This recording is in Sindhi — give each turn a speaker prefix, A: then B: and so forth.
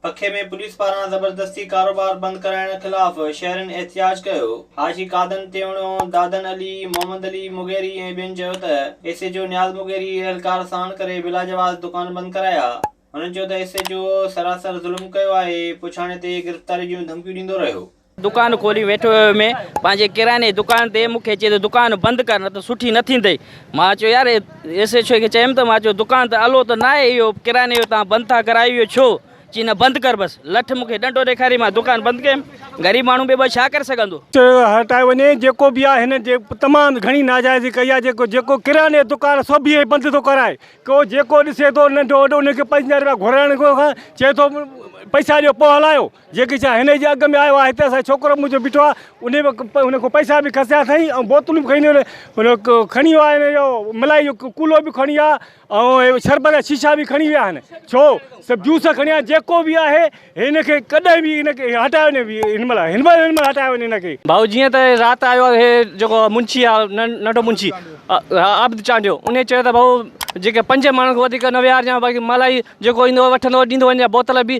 A: پکي ۾ پوليس پاران زبردستي ڪاروبار بند ڪرائڻ خلاف شهرين احتجاج ڪيو، حاجي قادن تيوڻو، دادن علي، محمد علي مغيري ۽ ٻين چيو ته S H O Niaz Mugheri اهلڪار ساڻ ڪري بلاجواز دڪان بند ڪرايا، هنن چيو ته ايس ايچ او سراسر ظلم ڪيو آهي، پڇاڻي تي گرفتاري جون ڌمڪيون ڏيندو رهيو. دڪان کولي ويٺو
B: هيو مين پنهنجي ڪرياني جي دڪان تي مون کي چئي ته دڪان بند ڪر نه ته سٺي نه ٿيندئي مان چيو يار ايس ايڇ او کي چيم ته مان چيو دڪان ته الو ته ناهي اهو ڪرياني جو تان بند ٿا ڪرايو اهو ڇو چي نه بند ڪر بس لٺ مون کي ڏنڊو ڏيکاري مان دڪان بند ڪيم غريب ماڻهو بي بس ڇا ڪري سگهندو. چيو هٽائي وڃي
C: جيڪو به آهي هن تمام گهڻي ناجائزي ڪئي آهي جيڪو جيڪو ڪرياني جو دڪان سڀ اهي بند ٿو ڪرائي ڪو جيڪو ڏسي ٿو ننڍو وڏو ان کي پنج رپيا گهرائڻ کان چئي ٿو پئسا ڏيو پوء هلايو. جيڪي ڇا هن جي اڳ ۾ آيو آ هتي اسان ڇوڪرو منهنجو بيٺو آ انهي انهي کان پئسا به کسيا سائين ۽ بوتلون به کڻي ويو کڻي ويو آ هن جو ملائي جو ڪولو به کڻي ويا ۽ شربت جا شيشا به کڻي ويا آهن ڇو سڀ جوس کڻي ويا جيڪو به آهي هن کي ڪڏهن به هن کي هٽايو نه ويئي هن مهل هن مهل هٽايو وڃي هن کي. ڀائو جيئن ته رات
B: آيو آ هي جيڪو منشي آ ننڍو منشي عابد چانڊيو انهي چيو ته ڀائو جيڪي پنج ماڻهن کان وڌيڪ نه ويهارجان باقي ملائي جيڪو ايندو وٺندو ڏيندو وڃجان بوتل به